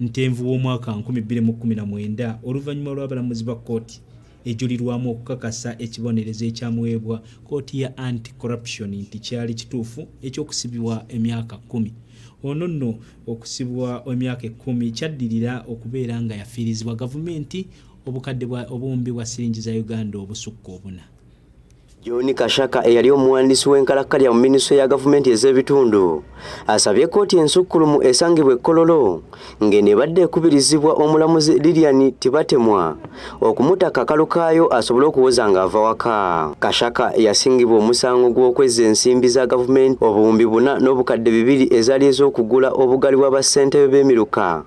Ntenvu w'omwaka nkumi bbiri mu kkumi na mwenda oluvannyuma lw'abalamuzi ba kkooti ejulirwamu okukakasa ekibonerezo ekyamuweebwa kkooti ya Anti Corruption nti kyali kituufu eky'okusibibwa emyaka kkumi. Ono nno okusibwa emyaka ekkumi kyaddirira okubeera nga yafiirizibwa gavumenti obukadde bwa obuwumbi bwa siringi za Uganda obusukka obuna. John Kashaka eyali omuwandiisi w'enkalakkalya mu minisitule ya gavumenti ez'ebitundu asabye kkooti ensukkulumu esangibwa ekkololo ng'eno ebadde ekubirizibwa omulamuzi Lilian Tibatemwa okumuta kakalu kaayo asobole okuwoza ng'ava waka. Kashaka yasingibwa omusango gw'okwezza ensimbi za gavumenti obuwumbi buna n'obukadde bibiri ezaali ez'okugula obugaali bwa bassentebe b'emiruka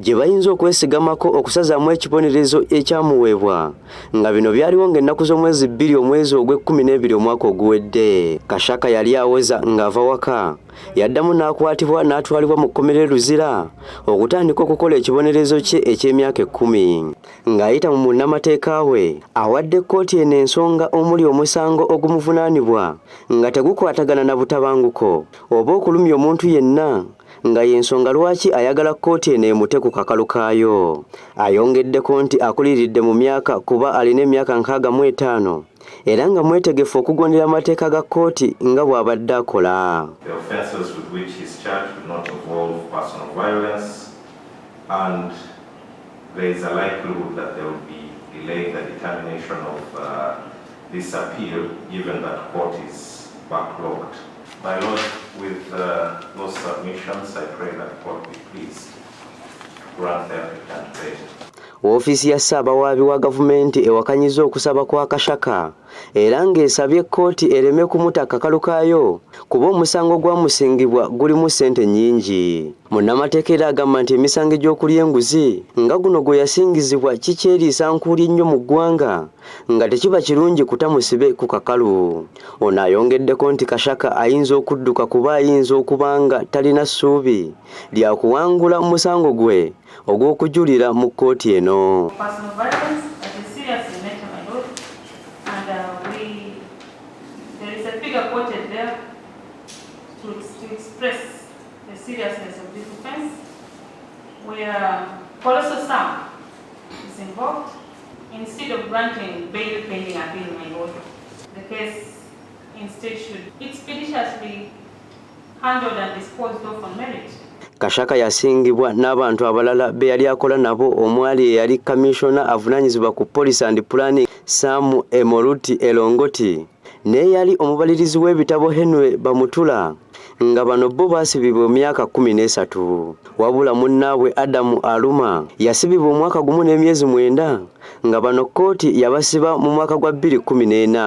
gye bayinza okwesigamako okusazaamu ekibonerezo ekyamuweebwa nga bino byaliwo ng'ennaku z'omwezi bbiri omwezi ogw'ekkumi n'ebiri omwaka oguwedde kashaka yali aweza ng'ava waka yaddamu n'akwatibwa n'atwalibwa mu kkomera e luzira okutandika okukola ekibonerezo kye eky'emyaka ekkumi ng'ayita mu munnamateeka we awadde kkooti eno ensonga omuli omusango ogumuvunaanibwa nga tegukwatagana na butabanguko oba okulumya omuntu yenna nga y'ensonga lwaki ayagala kkooti eno emute ku kakalu kaayo. Ayongeddeko nti akuliridde mu myaka kuba alina emyaka nkaaga mu etaano era nga mwetegefu okugondera amateeka ga kkooti nga bw'abadde akola. This appeal, given that court is backlogged. My Lord, with uh, those submissions, I pray that God be pleased to grant the applicant bail. Woofiisi ya Ssaabawaabi wa gavumenti ewakanyiza okusaba kwa Kashaka era ng'esabye kkooti ereme kumuta kakalu kaayo kuba omusango gwamusingibwa gulimu ssente nnyingi. Munnamateeka era agamba nti emisango egy'okulya enguzi nga guno gwe yasingizibwa kikyeriisa nkuuli ennyo mu ggwanga nga tekiba kirungi kuta musibe ku kakalu. Ono ayongeddeko nti Kashaka ayinza okudduka kuba ayinza okuba nga talina ssuubi lya kuwangula musango gwe ogw'okujulira mu kkooti eno. is involved. Instead of granting bail pending appeal in my order, the case instead should expeditiously handled and disposed of on merit. Kashaka yasingibwa n'abantu abalala be yali akola nabo omwali eyali kaminsona avunaanyizibwa ku police and planning Sam Emoruti Elongoti. n'eyali omubalirizi w'ebitabo Henry Bamutula nga bano bo baasibibwa emyaka kkumi n'esatu wabula munnaabwe Adamu Aluma yasibibwa omwaka gumu n'emyezi mwenda nga bano kkooti yabasiba mu mwaka gwa bbiri kkumi n'ena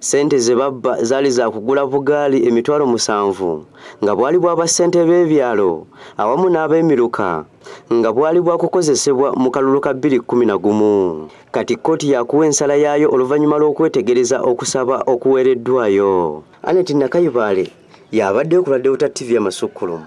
ssente ze babba zaali za kugula bugaali emitwalo musanvu nga bwali bwaba ssente b'ebyalo awamu n'ab'emiruka nga bwali bwakukozesebwa mu kalulu ka bbiri kkumi na gumu kati kkooti yakuwa ensala yaayo oluvannyuma lw'okwetegereza okusaba okuweereddwayo. Annet Nakayubaale y'abaddeyo ku lwa Deota TV Amasukkulumu.